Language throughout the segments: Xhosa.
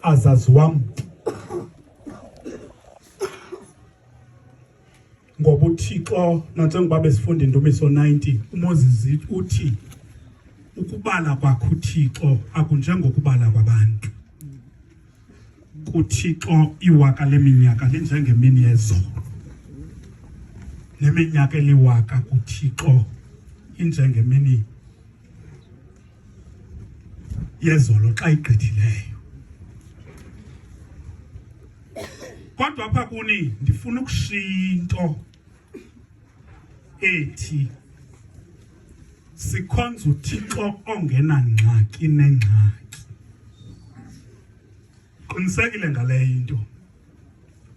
azazi wam ngoba uthixo nantsengoba besifunda indumiso 90 umoses uthi ukubala kwakho uthixo akunjengokubala kwabantu kuthixo iwaka leminyaka linjengemini yezolo neminyaka eliwaka kuthixo injengemini yezolo xa igqithileyo kodwa apha kuni ndifuna ukushiya into ethi sikhonza uthixo ongenangxaki nengxaki qinisekile ngaleyo into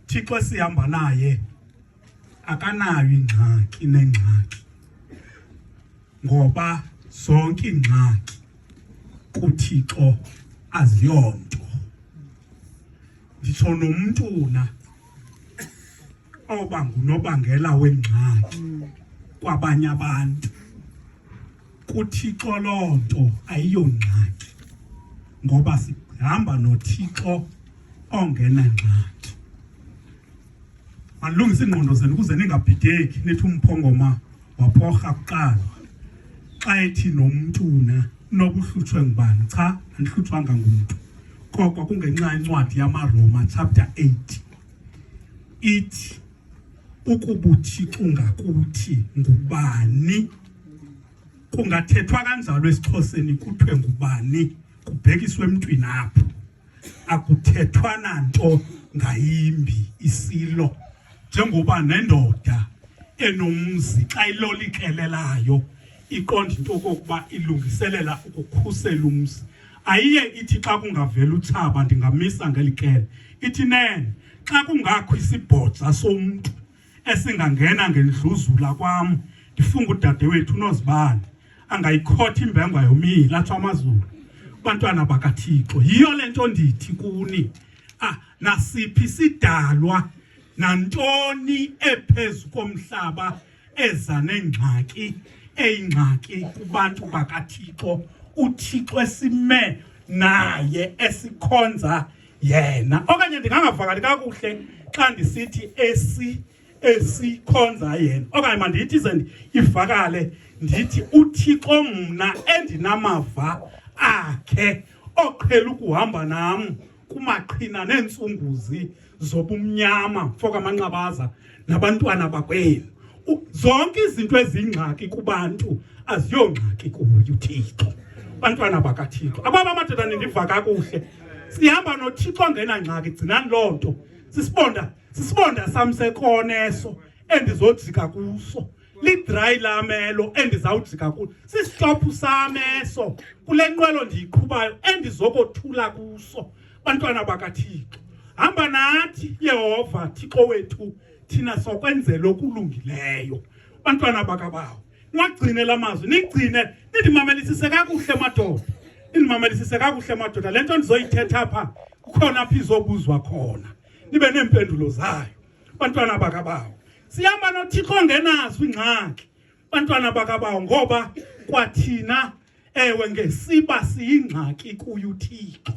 thixo esihamba naye akanayo ingxaki nengxaki ngoba zonke ingxaki kuthixo aziyonto nditsho nomntu na oba ngunobangela wengxaki kwabanye abantu kuthixo loo nto ayiyongxaki ngoba sihamba nothixo ongenangxaki Manilungise iingqondo zenu ukuze ningabhideki nithi umphongoma waphorha kuqala xa ethi nomntu na noba uhlutshwe ngubani cha andihlutshwanga ngumntu koko kungenxa incwadi yamaroma chapter 8 ithi ukubuthixo ngakuthi ngubani kungathethwa kanjalo esixhoseni kuthiwe ngubani kubhekiswe emntwini apho akuthethwa nanto ngayimbi isilo njengoba nendoda enomzi xa ilolikelelayo iqonda into okokuba ilungiselela ukukhusela umzi ayiye ithi xa kungavela utshaba ndingamisa ngelikele ithi nene xa kungakho isibhodza somntu esingangena ngendluzula kwam ndifunga udadewethu unozibane angayikhotha imbengwa yomile atsho amazulu bantwana bakathixo yiyo le nto ndithi kuni ah nasiphi sidalwa nantoni ephezu komhlaba eza nengxaki eyingxaki kubantu bakathixo uthixo esime naye esikhonza yena okanye ndingangavakali kakuhle xa ndisithi esi esikhonza yena okanye mandithi ze ivakale ndithi uthixo mna endinamava akhe oqhela ukuhamba nam kumaqhina neentsumbuzi zobumnyama fokamanqabaza nabantwana bakwenu. Zonke izinto ezingxaki kubantu aziyongxaki kuwe uThixo. Bantwana bakaThixo. Ababa amadoda nindiva kakuhle. Sihamba noThixo ngena ngxaki gcinani loo nto. Sisibonda, sisibonda samsekoneso endizojika kuso. lidry lamelo endizawujika kulo sisitophu sameso kule nqwelo ndiyiqhubayo endizokothula kuso Bantwana bakaThixo, hamba nathi Yehova Thixo wethu, thina sokwenzela okulungileyo. Bantwana bakabawo, niwagcine la mazwi, nigcine nindimamelisise kakuhle madoda, nindimamelisise kakuhle madoda. Le nto ndizoyithetha apha kukhona apha izobuzwa khona, nibe neempendulo zayo. Bantwana bakabawo, sihamba noThixo ongenazo iingxaki bantwana bakabawo ngoba kwathina ewe ngesiba siyingxaki kuye uthixo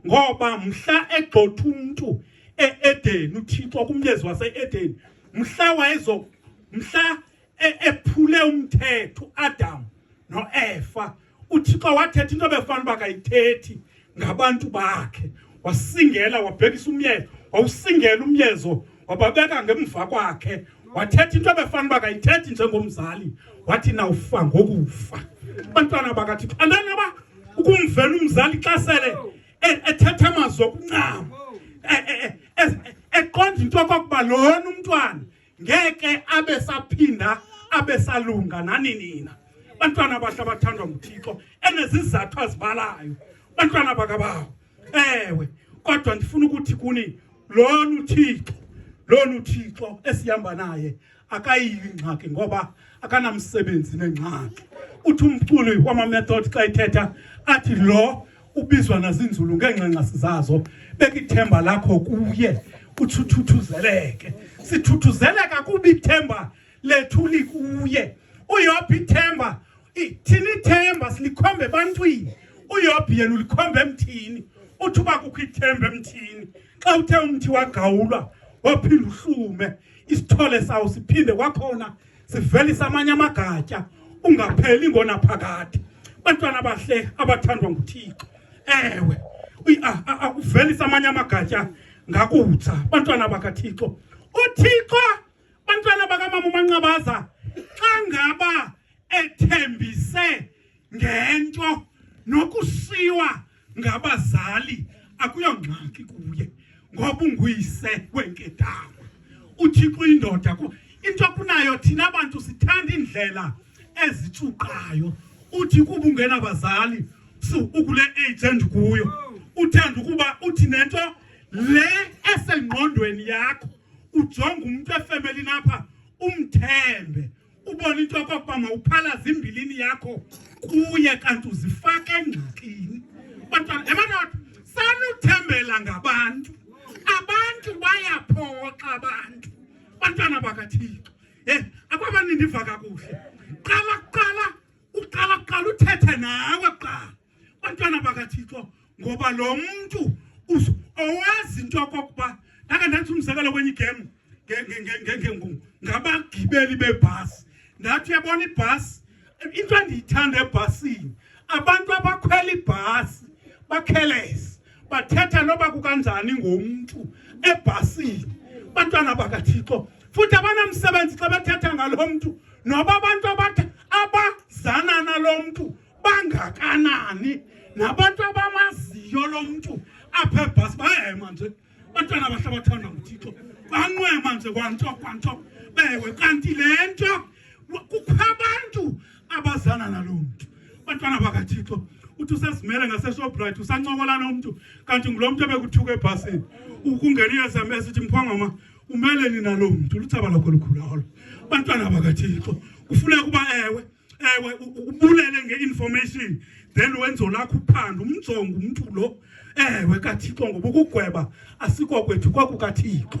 ngoba mhla egxotha umntu e-edeni uthixo kumlezi wase-edeni mhla wayezo mhla e-, ephule umthetho uadamu noefa uthixo wathetha into befanele uba kayithethi ngabantu bakhe wasingela wabhekisa umyezo wawusingela umyezo wababeka ngemva kwakhe wathetha into ebefanele uba kayithethi njengomzali wathi nawufa ngokufa abantwana bakathixo andani aba ukumvela umzali xa sele e-, ethetha amazwi okuncama e-, e-, eqonda into okokuba lona umntwana ngeke abe saphinda abe salunga nani nina bantwana abahle abathandwa nguthixo enezizathu azibalayo bantwana bakabawo ewe kodwa ndifuna ukuthi kuni lona uthixo lona uthixo esihamba naye akayili ingxaki ngoba akanamsebenzi nengxaki uthi umculi wamamethod xa ithetha athi lo ubizwa nazinzulu ngeenxanxasi zazo bekithemba lakho kuye uthuthuzeleke sithuthuzeleka kuba ithemba lethu likuye uyopha ithemba thina ithemba silikhomba ebantwini uyopha yena ulikhomba emthini uthi uba kukho ithemba emthini xa uthe umthi wagawulwa waphinde uhlume isithole sawo siphinde kwakhona sivelisa amanye amagatya ungapheli ngonaphakade bantwana bahle abathandwa nguthixo ewe akuvelisa amanye amagatya ngakutsa bantwana bakathixo uthixo bantwana bakamama umanqabaza xa ngaba ethembise ngento nokusiwa ngabazali akuyongxaki kuye ngoba unguyise wenkedama uthixo uyindoda ku into kunayo thina bantu sithanda iindlela ezitshuqayo uthi kuba ungenabazali so ukule age endikuyo uthanda ukuba uthi nento le esengqondweni yakho ujonga umuntu efemelini apha umthembe ubona into yokokuba mawuphalaze imbilini yakho kuye kanti uzifake engxakini bantwana ebantwana sanuthembela ngabantu abantu bayaphoxa abantu bantwana bakathixo ye akwabanini ndiva kakuhle qala kuqala uqala kuqala uthethe nawe kuqala bantwana bakathixo ngoba lo mntu owazi into yokokuba ndake ndenza umzekelo kwenye igemu ngabagibeli bebhasi ndathi uyabona ibhasi into endiyithanda ebhasini abantu abakhwela ibhasi bakhelese bathetha noba kukanjani ngomntu ebhasini bantwana bakathixo futhi abanamsebenzi xa bethetha ngalo mntu noba abantu abazana nalo mntu bangakanani nabantu abamaziyo lo mntu apha ebhasi bayema nje bantwana abahle abathandwa nguthixo banqwema nje kwanto kwanto bewe kanti le nto kukho abantu abazana nalo mntu bantwana bakathixo uthi usezimele ngaseshoprite usancokola nomntu kanti ngulo mntu ebekuthuka ebhasini ukungena i-sms ithi mphongoma umeleni nalo mntu luthaba lakho lukhulu olo bantwana bakathixo kufuneka uba ewe ewe ubulele nge-information then wenzo lakho uphando umjongo umntu lo ewe kathixo ngoba ukugweba asikokwethu kwakukathixo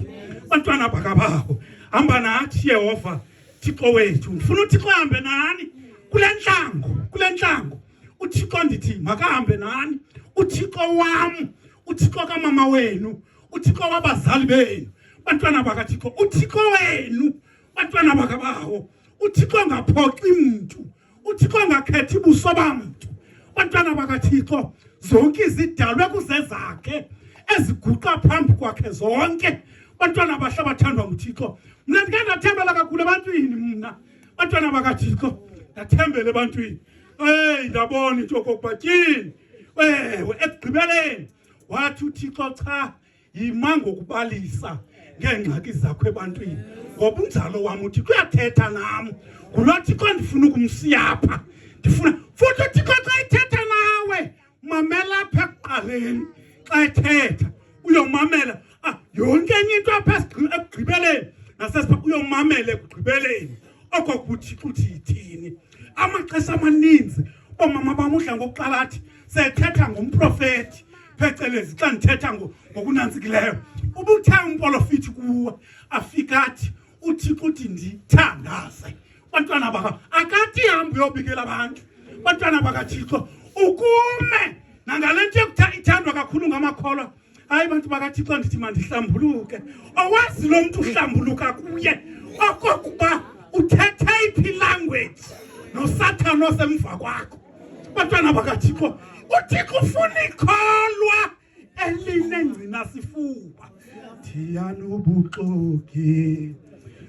bantwana bakabako hamba nathi yehova thixo wethu ndifuna uthixo ahambe nani kule ntlango kule ntlango uthixo ndithi makahambe nani uthixo wam uthixo kamama wenu uthixo wabazali benu bantwana bakathixo uthixo wenu bantwana bakabawo uthixo angaphoxi mntu uthixo angakhethi buso bamntu bantwana bakathixo zonke izidalwe kuzezakhe eziguqa phambi kwakhe zonke bantwana abahle abathandwa nguthixo mna ndike ndathembela kakhulu ebantwini mna bantwana bakathixo ndathembela ebantwini eyi ndabona into yokokuba tyini ewe ekugqibeleni wathi uthixo cha yima ngokubalisa ngeengxaki zakho ebantwini ngoba unjalo wam uthi kuyathetha nam ngulo thixo ndifuna ukumsiyapha ndifuna futhi uthixo xa ethetha nawe mamela apha ekuqaleni xa ethetha uyomamela ah, yonke enye into apha ekugqibeleni nasesipha uyomamela ekugqibeleni oko kuthi kuthi yithini amaxesha amaninzi oomama bam udla ngokuqala athi sethetha ngomprofeti phecelezi xa ndithetha ngokunantsikileyo ubuthe umprofiti kuwe afika athi uthixo uthi ndithandaze bantwana baka akathi hambi uyobikela abantu bantwana bakathixo ukume nangale nto ithandwa kakhulu ngamakholwa hayi bantu bakathixo ndithi mandihlambuluke owazi lo mntu uhlambuluka kuye okokuba uthethe iphi language nosathane osemva kwakho bantwana bakathixo uthixo ufuna ikholwa elinengcina sifuba thiyani ubuxoki